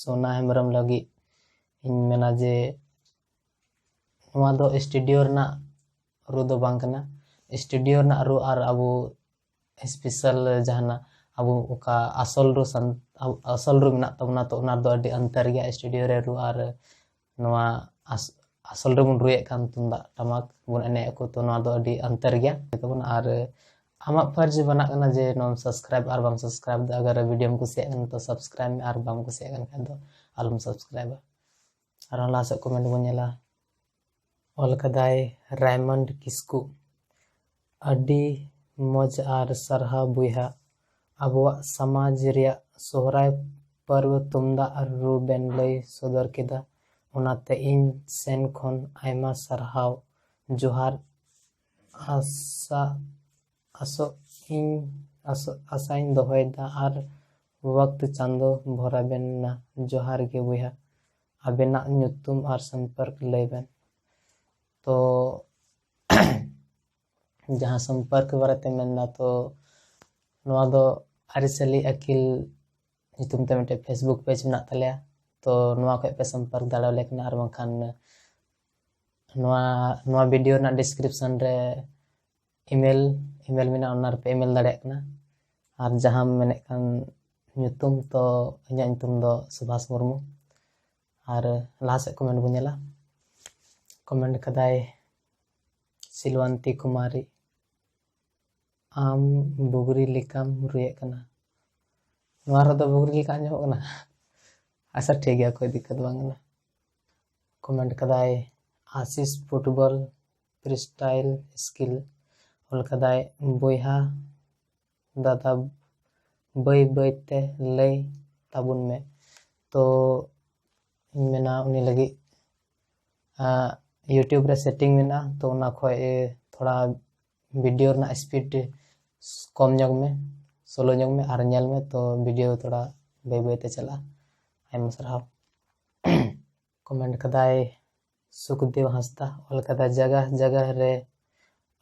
ᱥᱳᱱᱟ ᱦᱮᱢᱵᱨᱚᱢ ᱞᱟᱹᱜᱤᱫ ᱤᱧ ᱢᱮᱱᱟ ᱡᱮ ᱱᱚᱣᱟ ᱫᱚ ᱥᱴᱩᱰᱤᱭᱳ ᱨᱮᱱᱟᱜ ᱨᱩ ᱫᱚ ᱵᱟᱝ ᱠᱟᱱᱟ ᱥᱴᱩᱰᱤᱭᱳ ᱨᱮᱱᱟᱜ ᱨᱩ ᱟᱨ ᱟᱵᱚ ᱥᱯᱮᱥᱟᱞ ᱡᱟᱦᱟᱱᱟᱜ ᱟᱵᱚ ᱚᱠᱟ ᱟᱥᱚᱞ ᱨᱩ ᱥᱟᱱ ᱟᱥᱚᱞ ᱨᱩ ᱢᱮᱱᱟᱜ ᱛᱟᱵᱚᱱᱟ ᱛᱚ ᱚᱱᱟ ᱨᱮᱫᱚ ᱟᱹᱰᱤ ᱚᱱᱛᱚᱨ ᱜᱮᱭᱟ ᱥᱴᱩᱰᱤᱭᱳ ᱨᱮ ᱨᱩ ᱟᱨ ᱱᱚᱣᱟ ᱟᱥᱚᱞ ᱨᱮᱵᱚᱱ ᱨᱩᱭᱮᱫ ᱠᱟᱱ ᱛᱩᱢᱫᱟᱜ ᱴᱟᱢᱟᱠ ᱵᱚᱱ ᱮᱱᱮᱡ ᱟᱠᱚ ᱛᱚ ᱱᱚᱣᱟ ᱫᱚ ᱟᱹᱰᱤ ᱟᱱᱛᱟᱨ ᱜᱮᱭᱟ ᱛᱟᱵᱚᱱ ᱟᱨ ᱟᱢᱟᱜ ᱯᱷᱟᱨᱡ ᱵᱟᱱᱟᱜ ᱠᱟᱱᱟ ᱡᱮ ᱱᱚᱣᱟᱢ ᱥᱟᱵᱥᱠᱨᱟᱭᱤᱵ ᱟᱨ ᱵᱟᱢ ᱥᱟᱵᱥᱠᱨᱟᱭᱤᱵ ᱫᱚ ᱟᱜᱟᱨ ᱵᱷᱤᱰᱤᱭᱳᱢ ᱠᱩᱥᱤᱭᱟᱜ ᱠᱟᱱᱟ ᱛᱚ ᱥᱟᱵᱥᱠᱨᱟᱭᱤᱵ ᱢᱮ ᱟᱨ ᱵᱟᱢ ᱠᱩᱥᱤᱭᱟᱜ ᱠᱟᱱ ᱠᱷᱟᱡ ᱫᱚ ᱟᱞᱚᱢ ᱥᱟᱵᱥᱠᱨᱟᱭᱤᱵᱟ ᱟᱨᱦᱚᱸ ᱞᱟᱦᱟ ᱥᱮᱫ ᱠᱚᱢᱮᱱᱴ ᱵᱚᱱ ᱧᱮᱞᱟ ᱚᱞ ᱠᱟᱫᱟᱭ ᱨᱟᱭᱢᱚᱱᱰ ᱠᱤᱥᱠᱩ ᱟᱹᱰᱤ ᱢᱚᱡᱽ ᱟᱨ ᱥᱟᱨᱦᱟᱣ ᱵᱚᱭᱦᱟ᱾ ᱟᱵᱚᱣᱟᱜ ᱥᱟᱢᱟᱡᱽ ᱨᱮᱭᱟᱜ ᱥᱚᱦᱨᱟᱭ ᱯᱟᱹᱨᱣᱟᱹ ᱛᱩᱢᱫᱟᱜ ᱟᱨ ᱨᱩ ᱵᱮᱱ ᱞᱟᱹᱭ ᱥᱚᱫᱚᱨ ᱠᱮᱫᱟ ᱚᱱᱟᱛᱮ ᱤᱧ ᱥᱮᱱ ᱠᱷᱚᱱ ᱟᱭᱢᱟ ᱥᱟᱨᱦᱟᱣ ᱡᱚᱦᱟᱨ ᱟᱥᱟ ᱟᱥᱚᱜ ᱤᱧ ᱟᱥᱚᱜ ᱟᱥᱟᱧ ᱫᱚᱦᱚᱭᱮᱫᱟ ᱟᱨ ᱣᱟᱠᱛ ᱪᱟᱸᱫᱚ ᱵᱷᱚᱨᱟ ᱵᱮᱱ ᱱᱟ ᱡᱚᱦᱟᱨ ᱜᱮ ᱵᱚᱭᱦᱟ ᱟᱵᱮᱱᱟᱜ ᱧᱩᱛᱩᱢ ᱟᱨ ᱥᱟᱢᱯᱟᱨᱠ ᱞᱟᱹᱭ ᱵᱮᱱ ᱛᱚ ᱡᱟᱦᱟᱸ ᱥᱚᱢᱯᱚᱨᱠ ᱵᱟᱨᱮᱛᱮ ᱢᱮᱱᱫᱟ ᱛᱚ ᱱᱚᱣᱟ ᱫᱚ ᱟᱹᱨᱤᱪᱟᱹᱞᱤ ᱟᱹᱠᱤᱞ ᱧᱩᱛᱩᱢ ᱛᱮ ᱢᱤᱫᱴᱮᱡ ᱯᱷᱮᱥᱵᱩᱠ ᱯᱮᱡᱽ ᱢᱮᱱᱟᱜ ᱛᱟᱞᱮᱭᱟ ᱛᱚ ᱱᱚᱣᱟ ᱠᱷᱚᱡ ᱯᱮ ᱥᱚᱢᱯᱚᱨᱠ ᱫᱟᱲᱮᱭᱟᱞᱮ ᱠᱟᱱᱟ ᱟᱨ ᱵᱟᱝᱠᱷᱟᱱ ᱱᱚᱣᱟ ᱱᱚᱣᱟ ᱵᱷᱤᱰᱤᱭᱳ ᱨᱮᱱᱟᱜ ᱰᱤᱥᱠᱨᱤᱯᱥᱚᱱ ᱨᱮ ᱤᱢᱮᱞ ᱤᱢᱮᱞ ᱢᱮᱱᱟᱜᱼᱟ ᱚᱱᱟ ᱨᱮᱯᱮ ᱤᱢᱮᱞ ᱫᱟᱲᱮᱭᱟᱜ ᱠᱟᱱᱟ ᱟᱨ ᱡᱟᱦᱟᱸᱢ ᱢᱮᱱᱮᱫ ᱠᱟᱱ ᱧᱩᱛᱩᱢ ᱛᱚ ᱤᱧᱟᱹᱜ ᱧᱩᱛᱩᱢ ᱫᱚ ᱥᱩᱵᱷᱟᱥ ᱢᱩᱨᱢᱩ ᱟᱨ ᱞᱟᱦᱟ ᱥᱮᱫ ᱠᱚᱢᱮᱱᱴ ᱵᱚᱱ ᱧᱮᱞᱟ ᱠᱚᱢᱮᱱᱴ ᱠᱟᱫᱟᱭ ᱥᱤᱞᱣᱟᱱᱛᱤ ᱠᱩᱢᱟᱨᱤ ᱟᱢ ᱵᱩᱜᱽᱨᱤ ᱞᱮᱠᱟᱢ ᱨᱩᱭᱮᱫ ᱠᱟᱱᱟ ᱱᱚᱣᱟ ᱨᱮᱫᱚ ᱵᱩᱜᱽᱨᱤ ᱞᱮᱠᱟ ᱟᱸᱡᱚᱢᱚᱜ ᱠᱟᱱᱟ ᱟᱪᱪᱷᱟ ᱴᱷᱤᱠ ᱜᱮᱭᱟ ᱠᱳᱭ ᱫᱤᱠᱠᱟᱛ ᱵᱟᱝ ᱠᱟᱱᱟ ᱠᱚᱢᱮᱱᱴ ᱠᱟᱫᱟᱭ ᱟᱥᱤᱥ ᱯᱷᱩᱴᱵᱚᱞ ᱯᱷᱨᱤᱥᱴᱟᱭᱤᱞ ᱥᱠᱤᱞ ᱚᱞ ᱠᱟᱫᱟᱭ ᱵᱚᱭᱦᱟ ᱫᱟᱫᱟ ᱵᱟᱹᱭ ᱵᱟᱹᱭ ᱛᱮ ᱞᱟᱹᱭ ᱛᱟᱵᱚᱱ ᱢᱮ ᱛᱚ ᱤᱧ ᱢᱮᱱᱟ ᱩᱱᱤ ᱞᱟᱹᱜᱤᱫ ᱤᱭᱩᱴᱤᱭᱩᱵᱽ ᱨᱮ ᱥᱮᱴᱤᱝ ᱢᱮᱱᱟᱜᱼᱟ ᱛᱚ ᱚᱱᱟ ᱠᱷᱚᱡ ᱛᱷᱚᱲᱟ ᱵᱷᱤᱰᱤᱭᱳ ᱨᱮᱱᱟᱜ ᱥᱯᱤᱰ ᱠᱚᱢ ᱧᱚᱜᱽ ᱢᱮ ᱥᱳᱞᱳ ᱧᱚᱜᱽ ᱢᱮ ᱟᱨ ᱧᱮᱞ ᱢᱮ ᱛᱚ ᱵᱷᱤᱰᱤᱭᱳ ᱛᱷᱚᱲᱟ ᱵᱟᱹᱭ ᱵᱟᱹᱭ ᱛᱮ ᱪᱟᱞᱟᱜᱼᱟ ᱟᱭᱢᱟ ᱥᱟᱨᱦᱟᱣ ᱠᱚᱢᱮᱱᱴ ᱠᱟᱫᱟᱭ ᱥᱩᱠᱫᱮᱣ ᱦᱟᱸᱥᱫᱟ ᱚᱞ ᱠᱟᱫᱟ ᱡᱟᱜᱟ ᱡᱟᱜᱟ ᱨᱮ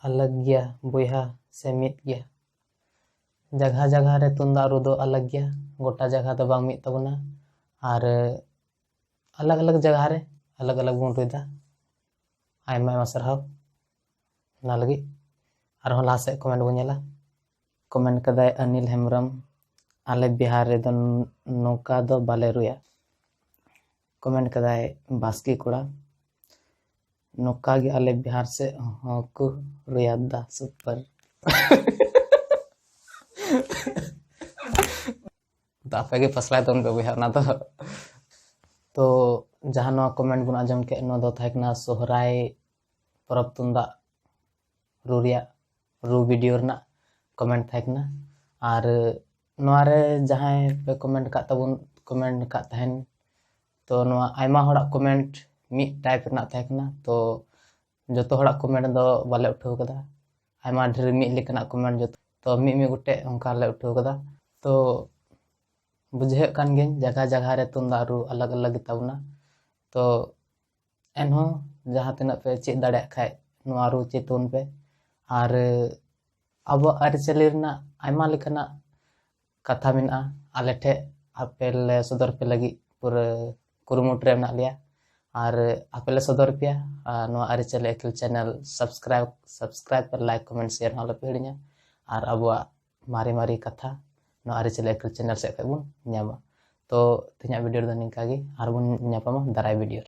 ᱟᱞᱟᱜᱽ ᱜᱮᱭᱟ ᱵᱚᱭᱦᱟ ᱥᱮ ᱢᱤᱫ ᱜᱮᱭᱟ ᱡᱟᱜᱟ ᱡᱟᱜᱟ ᱨᱮ ᱛᱩᱢᱫᱟᱜ ᱨᱩ ᱫᱚ ᱟᱞᱟᱜᱽ ᱜᱮᱭᱟ ᱜᱚᱴᱟ ᱡᱟᱜᱟ ᱫᱚ ᱵᱟᱝ ᱢᱤᱫ ᱛᱟᱵᱚᱱᱟ ᱟᱨ ᱟᱞᱟᱜᱽ ᱟᱞᱟᱜᱽ ᱡᱟᱭᱜᱟ ᱨᱮ ᱟᱞᱟᱜᱽ ᱟᱞᱟᱜᱽ ᱵᱚᱱ ᱨᱩᱭᱫᱟ ᱟᱭᱢᱟ ᱟᱭᱢᱟ ᱥᱟᱨᱦᱟᱣ ᱚᱱᱟ ᱞᱟᱹᱜᱤᱫ ᱟᱨᱦᱚᱸ ᱞᱟᱦᱟ ᱥᱮᱫ ᱠᱚᱢᱮᱱᱴ ᱵᱚᱱ ᱧᱮᱞᱟ ᱠᱚᱢᱮᱱᱴ ᱠᱟᱫᱟᱭ ᱚᱱᱤᱞ ᱦᱮᱢᱵᱨᱚᱢ ᱟᱞᱮ ᱵᱤᱦᱟᱨ ᱨᱮᱫᱚ ᱱᱚᱝᱠᱟ ᱫᱚ ᱵᱟᱞᱮ ᱨᱩᱭᱟ ᱠᱚᱢᱮᱱᱴ ᱠᱟᱫᱟᱭ ᱵᱟᱥᱠᱮ ᱠᱚᱲᱟ ᱱᱚᱝᱠᱟ ᱜᱮ ᱟᱞᱮ ᱵᱤᱦᱟᱨ ᱥᱮᱫ ᱦᱚᱸᱠᱚ ᱨᱩᱭᱟ ᱫᱟ ᱥᱩᱯᱟᱨ ᱛᱚ ᱟᱯᱮ ᱜᱮ ᱯᱟᱥᱞᱟᱭ ᱛᱟᱵᱚᱱ ᱯᱮ ᱵᱚᱭᱦᱟ ᱚᱱᱟ ᱫᱚ ᱛᱚ ᱡᱟᱦᱟᱸ ᱱᱚᱣᱟ ᱠᱚᱢᱮᱱᱴ ᱵᱚᱱ ᱟᱸᱡᱚᱢ ᱠᱮᱫ ᱱᱚᱣᱟ ᱫᱚ ᱛᱟᱦᱮᱸ ᱠᱟᱱᱟ ᱥᱚᱦᱨᱟᱭ ᱯᱚᱨᱚᱵᱽ ᱛᱩᱢᱫᱟᱜ ᱨᱩ ᱨᱮᱭᱟᱜ ᱨᱩ ᱵᱷᱤᱰᱤᱭᱳ ᱨᱮᱱᱟᱜ ᱠᱚᱢᱮᱱᱴ ᱛᱟᱦᱮᱸ ᱠᱟᱱᱟ ᱟᱨ ᱱᱚᱣᱟ ᱨᱮ ᱡᱟᱦᱟᱸᱭ ᱯᱮ ᱠᱚᱢᱮᱱᱴ ᱟᱠᱟᱫ ᱛᱟᱵᱚᱱ ᱠᱚᱢᱮᱱᱴ ᱟᱠᱟᱫ ᱛᱟᱦᱮᱱ ᱛᱚ ᱱᱚᱣᱟ ᱟᱭᱢᱟ ᱦᱚᱲᱟᱜ ᱠᱚᱢᱮᱱᱴ ᱢᱤᱫ ᱴᱟᱭᱤᱯ ᱨᱮᱱᱟᱜ ᱛᱟᱦᱮᱸ ᱠᱟᱱᱟ ᱛᱚ ᱡᱚᱛᱚ ᱦᱚᱲᱟᱜ ᱠᱚᱢᱮᱱᱴ ᱫᱚ ᱵᱟᱞᱮ ᱩᱴᱷᱟᱹᱣ ᱠᱟᱫᱟ ᱟᱭᱢᱟ ᱰᱷᱮᱨ ᱢᱤᱫ ᱞᱮᱠᱟᱱᱟᱜ ᱠᱚᱢᱮᱱᱴ ᱡᱚᱛᱚ ᱛᱚ ᱢᱤᱫ ᱢᱤᱫ ᱜᱚᱴᱮᱡ ᱚᱱᱠᱟ ᱞᱮ ᱩᱴᱷᱟᱹᱣ ᱠᱟᱫᱟ ᱛᱚ ᱵᱩᱡᱷᱟᱹᱜ ᱠᱟᱱ ᱜᱤᱭᱟᱹᱧ ᱡᱟᱭᱜᱟ ᱡᱟᱭᱜᱟ ᱨᱮ ᱛᱩᱢᱫᱟᱜ ᱨᱩ ᱟᱞᱟᱜᱽ ᱟᱞᱟᱜᱽ ᱜᱮᱛᱟ ᱵᱚᱱᱟ ᱛᱚ ᱮᱱᱦᱚᱸ ᱡᱟᱦᱟᱸ ᱛᱤᱱᱟᱹᱜ ᱯᱮ ᱪᱮᱫ ᱫᱟᱲᱮᱭᱟᱜ ᱠᱷᱟᱡ ᱱᱚᱣᱟ ᱨᱩ ᱪᱮᱫ ᱛᱟᱵᱚᱱ ᱯᱮ ᱟᱨ ᱟᱵᱚᱣᱟᱜ ᱟᱹᱨᱤᱪᱟᱹᱞᱤ ᱨᱮᱱᱟᱜ ᱟᱭᱢᱟ ᱞᱮᱠᱟᱱᱟᱜ ᱠᱟᱛᱷᱟ ᱢᱮᱱᱟᱜᱼᱟ ᱟᱞᱮ ᱴᱷᱮᱡ ᱟᱯᱮ ᱞᱮ ᱥᱚᱫᱚᱨ ᱯᱮ ᱞᱟᱹᱜᱤᱫ ᱯᱩᱨᱟᱹ ᱠᱩᱨᱩᱢᱩᱴᱩ ᱨᱮ ᱢᱮᱱᱟᱜ ᱞᱮᱭᱟ ᱟᱨ ᱟᱯᱮ ᱞᱮ ᱥᱚᱫᱚᱨ ᱯᱮᱭᱟ ᱟᱨ ᱱᱚᱣᱟ ᱟᱹᱨᱤᱪᱟᱹᱞᱤ ᱟᱹᱠᱤᱞ ᱪᱮᱱᱮᱞ ᱥᱟᱵᱥᱠᱨᱟᱭᱤᱵ ᱥᱟᱵᱥᱠᱨᱟᱭᱤᱵ ᱯᱮ ᱞᱟᱭᱤᱠ ᱠᱚᱢᱮᱱᱴ ᱥᱮᱭᱟᱨ ᱦᱚᱸ ᱟᱞᱚᱯᱮ ᱦᱤᱲᱤᱧᱟ ᱟᱨ ᱟᱵᱚᱣᱟᱜ ᱢᱟᱨᱮ ᱢᱟᱨᱮ ᱠᱟᱛᱷᱟ ᱱᱚᱣᱟ ᱟᱹᱨᱤᱪᱟᱹᱞᱤ ᱟᱹᱠᱤᱞ ᱪᱮᱱᱮᱞ ᱥᱮᱫ ᱠᱷᱚᱡ ᱵᱚᱱ ᱧᱟᱢᱟ ᱛᱚ ᱛᱮᱦᱮᱧᱟᱜ ᱵᱷᱤᱰᱤᱭᱳ ᱨᱮᱫᱚ ᱱᱤᱝᱠᱟ ᱜᱮ ᱟᱨᱵᱚᱱ ᱧᱟᱯᱟᱢᱟ ᱫᱟᱨᱟᱭ ᱵᱷᱤᱰᱤᱭᱳ ᱨᱮ